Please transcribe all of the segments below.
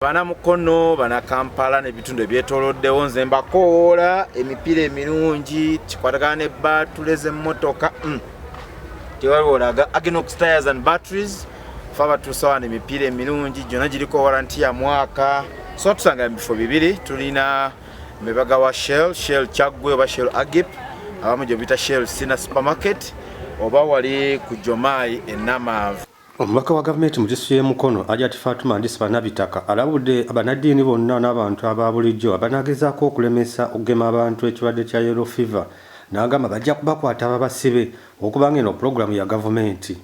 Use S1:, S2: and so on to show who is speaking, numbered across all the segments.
S1: bana mukono bana kampala nebitundu ebyetoloddewo nze mbakowoola emipiira emirungi kikwatagana ne batule zemotoka mm. tewaliwolaga agenox tires and batteries fe abatuusawana emipiira emirungi gyona giriko waranti ya mwaka so tusanga mu bifo bibiri tulina mebaga wa shell shell kyaggwe oba shell agip abamu gyobita shell sina supermarket oba wali ku jomayi enamaavu Omubaka wa gavumenti
S2: mu disitulikiti y'e Mukono, Hajati Fatuma Ndisiba Nabitaka alabudde bannaddiini bonna n'abantu aba bulijjo abanagezaako okulemesa okugema abantu ekirwadde kya Yellow Fever n'agamba bajja kubakwata babasibe okubanga eno pulogulaamu ya gavumenti.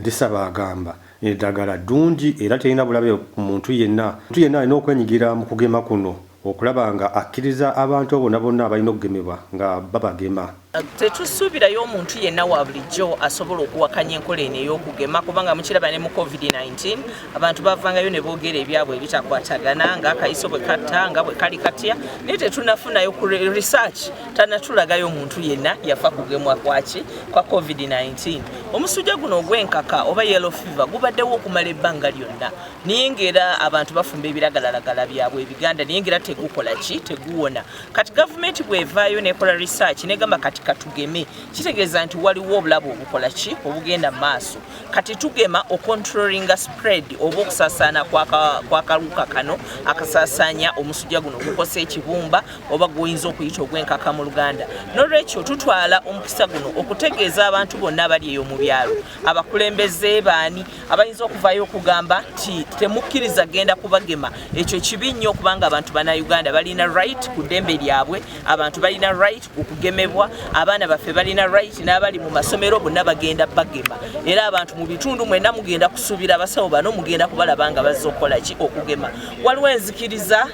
S2: Ndisaba agamba eddagala ddungi era terina bulabe ku muntu yenna. Omuntu yenna alina okwenyigira mu kugema kuno. okulaba nga akkiriza abantu bona bonna abalina okugemebwa nga babagema. Tetusuubirayo
S3: omuntu yenna wa bulijjo asobola okuwakanya enkola eno ey'okugema kubanga mukiraba ne mu COVID-19 abantu bavangayo ne boogera ebyabwe ebitakwatagana nga akayiso bwe katta nga bwe kali katya naye tetunafunayo ku research tanatulagayo omuntu yenna yafa kugemwa kwaki kwa COVID-19 omusujja guno ogw'enkaka oba yellow fever gubaddewo okumala ebbanga lyonna naye ngaera abantu bafumba ebiragalalagala byabwe ebiganda naye ngaera tegukola ki teguwona kati gavumenti bwevaayo nekola research negamba kati katugeme kitegeeza nti waliwo obulabu obukola ki obugenda mu maaso kati tugema ocontrolinga spread oba okusasaana kwakaluka kano akasasaanya omusujja guno gukosa ekibumba oba guyinza okuyita ogwenkaka mu luganda nolwekyo tutwala omukisa guno okutegeeza abantu bonna abali eyo mu byalo abakulembeze baani abayinza okuvayo okugamba nti temukkiriza genda kubagema ekyo kibi nnyo okubanga abantu bana uganda balina right ku ddembe lyabwe abantu balina right okugemebwa abaana baffe balina right n'abali mu masomero bonna bagenda bagema era abantu mu bitundu mwena mugenda kusuubira abasawo bano mugenda kubalaba nga bazza okukola ki okugema waliwo enzikiriza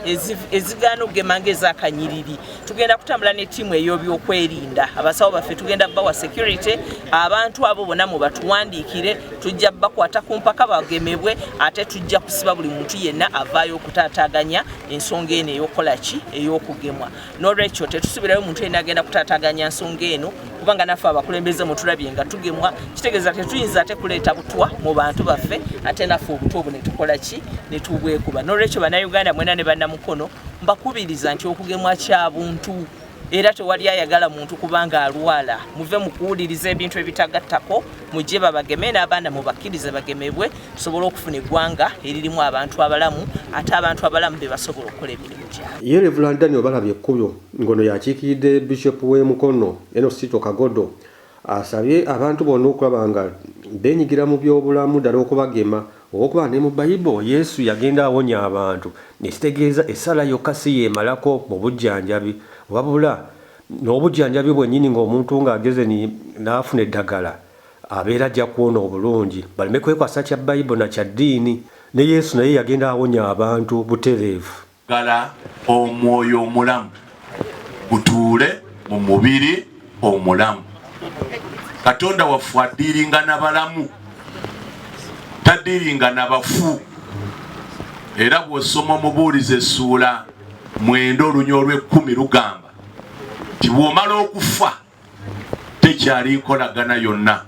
S3: ezigaana okugema ngaezakanyiriri tugenda kutambula ne ttiimu ey'obyokwerinda abasawo baffe tugenda bawa security abantu abo bona mubatuwandiikire tujja bakwata ku mpaka bagemebwe ate tujja kusiba buli muntu yenna avaayo okutaataganya ensonga eno eyokukola ki ey'okugemwa nolwekyo tetusubirayo muntu yenna agenda kutaataganya nsonga eno kubanga naffe abakulembeze mutulabye nga tugemwa kitegeeza tetuyinza ate kuleeta butwa mu bantu baffe ate naffe obutwa obwo netukola ki netubwekuba nolwekyo banauganda mwena ne bannamukono mbakubiriza nti okugemwa kya buntu era tewali ayagala muntu kubanga alwala muve mukuwuliriza ebintu ebitagattako mujje babageme n'abaana mubakkirize bagemebwe tusobole okufuna eggwanga eririmu abantu abalamu ate abantu abalamu be basobola okukola emirimu gyabo ye revulan daniel balabye
S2: ekkuyo ngono yakiikiridde bishop w'e mukono enosito kagodo Asabye abantu bonna okulaba nga benyigira mu by'obulamu ddala okubagema olw'okuba ne mu Bayibo Yesu yagenda awonya abantu ekitegeeza essala yokka si y'emalako mu bujjanjabi wabula n'obujjanjabi bwennyini ng'omuntu ng'ageze n'afuna eddagala abeera ajja kuwona obulungi baleme kwekwasa kya Bayibo na kya ddiini. Ne Yesu naye yagenda awonya abantu butereevu. Gala
S4: omwoyo omulamu gutuule mu mubiri omulamu. Katonda waffe adiiringa na balamu, tadiiringa na bafu. Era bw'osoma omubuulizi essuula mwenda olunya olw'ekkumi lugamba nti bw'omala okufa tekyali nkolagana yonna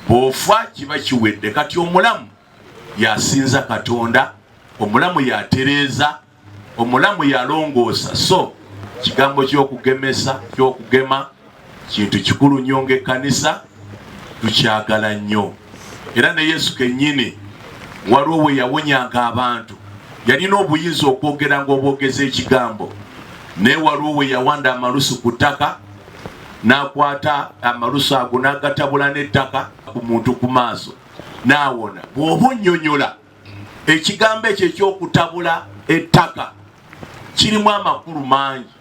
S4: bw'ofa kiba kiwedde kati omulamu yasinza katonda omulamu yatereeza omulamu yalongoosa so kigambo kyokugemesa kyokugema kintu kikulu nnyo ngaekkanisa tukyagala nnyo era ne yesu kennyini waliwo we yawonyanga abantu yalina obuyinza okwogera nga obwogeza ekigambo naye waliwo we yawanda amalusu ku ttaka n'akwata amalusu ago n'agatabula n'ettaka ku muntu ku maaso n'awona bw'oba onnyonnyola ekigambo ekyo eky'okutabula ettaka kirimu amakulu mangi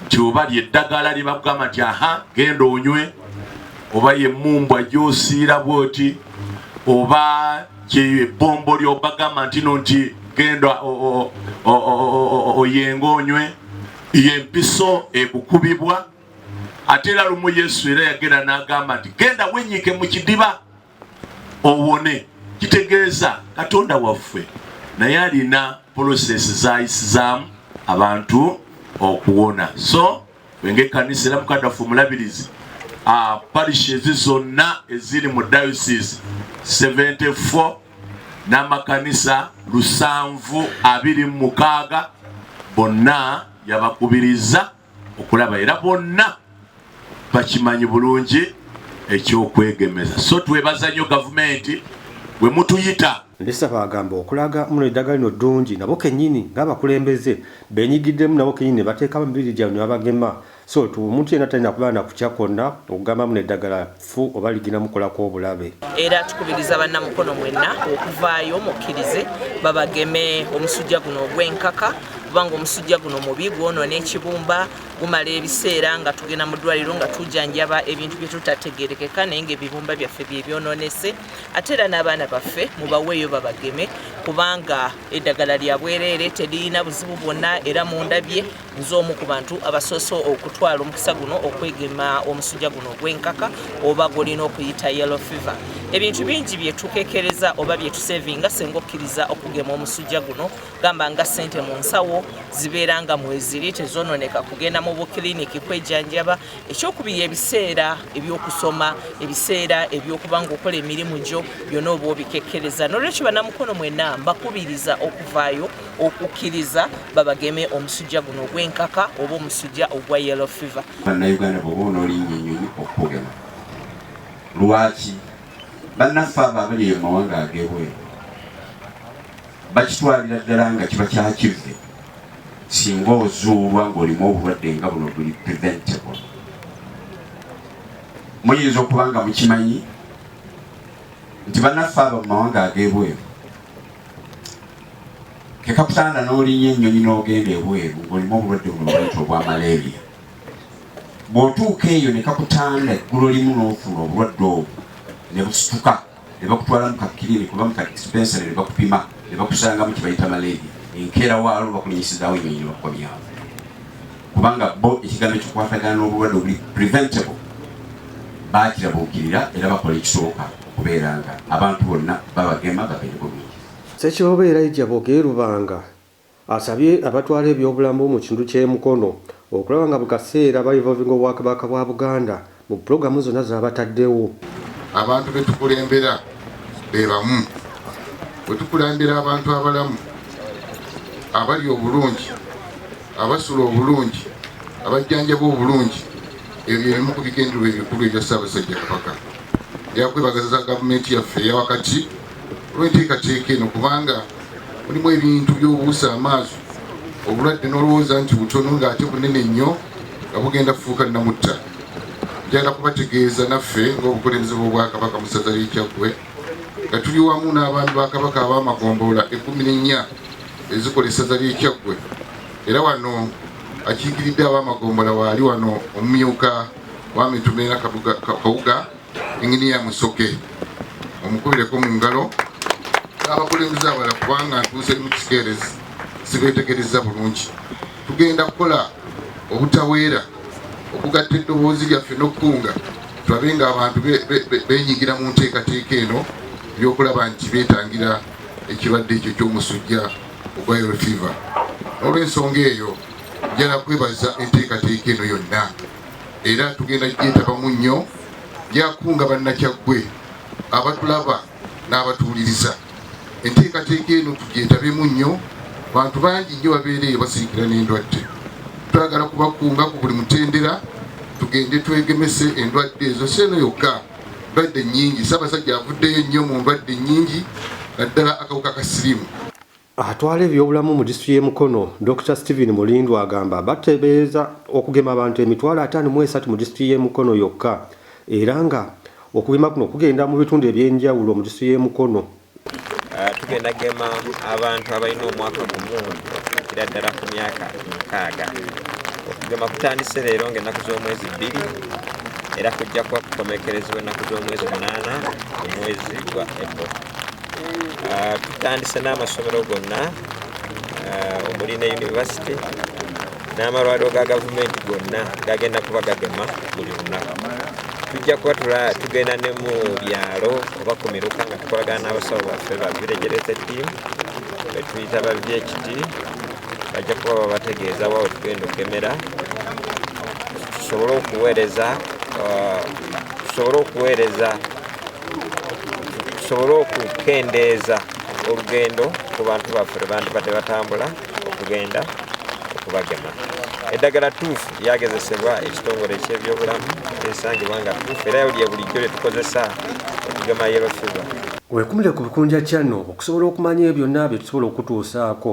S4: nti oba lyeddagala lye bakugamba nti aha genda onywe oba yemumbwa gyosiira bwoti oba ebbombo lyobagamba ntino nti genda oyenga onywe yempiso ekukubibwa ate era lumu yesu era yagenda n'agamba nti genda wenyike mu kidiba owone kitegeeza katonda waffe naye alina polosesi zayisizaamu abantu okuwona so wenge kanisa era mukadafu omulabirizi ah, parishi ezi zonna eziri mu diocese 74 n'amakanisa lusanvu abiri mu mukaaga bonna yabakubiriza okulaba era bonna bakimanyi bulungi ekyokwegemeza so twebaza nnyo gavumenti bwe mutuyita ndisaba agamba
S2: okulaga muno eddagala lino ddungi nabo kennyini ng'abakulembeze benyigiddemu nabo kennyini ne bateekamu mibiri gyabwe ne babagema so tu omuntu yenna talina kubeera na kutya kwonna okugamba muno eddagala ffu oba ligina mukolako obulabe. Era tukubiriza
S3: banna Mukono mwenna okuvaayo mukkirize babageme omusujja guno ogw'enkaka kubanga omusujja guno mubi gwonona ekibumba gumala ebiseera nga tugenda mu ddwaliro nga tujanjaba ebintu bye tutategerekeka naye nga ebibumba byaffe bye byononese ate era n'abaana baffe mubaweeyo babageme kubanga eddagala lya bwereere teririna buzibu bwonna era mundabye nze omu ku bantu abasoose okutwala omukisa guno okwegema omusujja guno ogw'enkaka oba gwolina okuyita yellow fever ebintu bingi byetukekereza oba byetusevinga senga okkiriza okugema omusujja guno gamba nga sente mu nsawo zibeera nga mweziri tezononeka kugenda mu bukiliniki kwejanjaba ekyokubiri ebiseera ebyokusoma ebiseera ebyokuba nga okola emirimu gyo byona oba obikekereza nolwekyo banamukono mwena mbakubiriza okuvaayo okukkiriza babageme omusujja guno ogw'enkaka oba omusujja ogwa yellow fever. Bannayuganda bwoba
S5: onoolinnya ennyonyi okukugema lwaki bannaffe abo abali eyo mawanga ag'ebweru bakitwalira ddala nga kiba kyakivve singa ozuulwa ng'olimu obulwadde nga buno buli preventable muyinza okuba nga mukimanyi nti bannaffe abo mu mawanga ag'ebweru kekakutanda n'olinya ennyonyi n'ogenda ebweru ng'olimu obulwadde buno bwayita obwa malaria bw'otuuka eyo ne kakutanda eggulo limu n'ofuna obulwadde obwo ne busituka ne bakutwala mu kakirini kuba mu kadispensary ne bakupima ne bakusangamu kye bayita malaria enkeera waalo bakulinyisizawo ennyonyi ne bakukomyawo kubanga bo ekigambo ekikwatagana n'obulwadde obuli preventable baakirabuukirira era bakola ekisooka okubeera nga abantu bonna babagema bagende bulungi Ssekiboobo Elijah
S2: Boge Lubanga asabye abatwala ebyobulamu mu kitundu ky'e Mukono okulaba nga buli kaseera ba involvinga Obwakabaka bwa Buganda mu pulogulamu zonna zabataddewo. Abantu be
S6: tukulembera be bamu. Bwe tukulembera abantu abalamu, abalya obulungi, abasula obulungi, abajjanjaba obulungi, ebyo bye bimu ku bigendererwa ebikulu ebya Ssaabasajja Kabaka. Nja kwebagaza Gavumenti yaffe eya wakati olw'enteekateeka eno kubanga mulimu ebintu by'obuusa amaaso obulwadde n'olowooza nti butono ng'ate bunene nnyo nga bugenda kufuuka namutta njagala kubategeeza naffe ng'obukulembeze bw'obwakabaka mu ssaza ly'ekyaggwe nga tuli wamu n'abaami ba kabaka ab'amagombolola ekkumi n'ennya ezikola essaza ly'ekyaggwe era wano akiikiridde ab'amagombolola waali wano omumyuka wa mitumera kawuga Inginiya Musoke omukubireko mu ngalo n'abakulembeze abala kubanga ntuuse mu kikeerezi sibeetegereza bulungi. Tugenda kukola obutaweera okugatta eddoboozi lyaffe n'okukunga tulabe nga abantu benyigira mu nteekateeka eno eyokulaba nti beetangira ekirwadde ekyo ky'omusujja ogwa yellow fever. N'olwensonga eyo njala kwebaza enteekateeka eno yonna. era tugenda gyetabamu nnyo lyakunga bannakyaggwe abatulaba n'abatuwuliriza enteekateeka eno tugyetabemu nnyo bantu bangi nnyo babeera eyo basirikira n'endwadde twagala kubakunga ku buli mutendera tugende twegemese endwadde ezo si eno yokka ndwadde nnyingi ssaabasajja avuddeyo nnyo mu ndwadde nnyingi naddala akawuka ka sirimu Atwala
S2: ebyobulamu mu disituli y'e Mukono, Dokita Steven Mulindwa agamba bateebereza okugema abantu emitwalo ataano mu esatu mu disituli y'e Mukono yokka era nga okugema kuno kugenda mu bitundu eby'enjawulo mu disituli y'e Mukono. Ah, tugenda
S7: gema abantu abalina omwaka gumu okukira ddala ku myaka mukaaga okugema kutandise leero ngaennaku z'omwezi bbiri era kujja kuba kukomekerezebwa ennaku z'omwezi munaana omwezi gwa april ah, tutandise n'amasomero gonna ah, omuli ne yunivasite n'amalwaliro ga gavumenti gonna gagenda kuba gagema buli lunaku tujja kuba tugenda ne mu byalo oba ku miruka nga tukolagana n'abasawo baffe ba viregerete tiimu betuyita ba vht bajja kuba babategeeza wa wetugenda okukemera tusobole okuweereza uh, tusobole okuweereza tusobole okukendeeza olugendo ku bantu baffe lwe bandibadde batambula okugenda okubagema eddagala tuufu lyagezesebwa ekitongole eky'ebyobulamu erisangibwa nga tuufu era lye bulijjo lye tukozesa okugema
S2: yellow fever wekumire ku bikunja channel okusobola okumanya ebyo byonna bye tusobola okutuusaako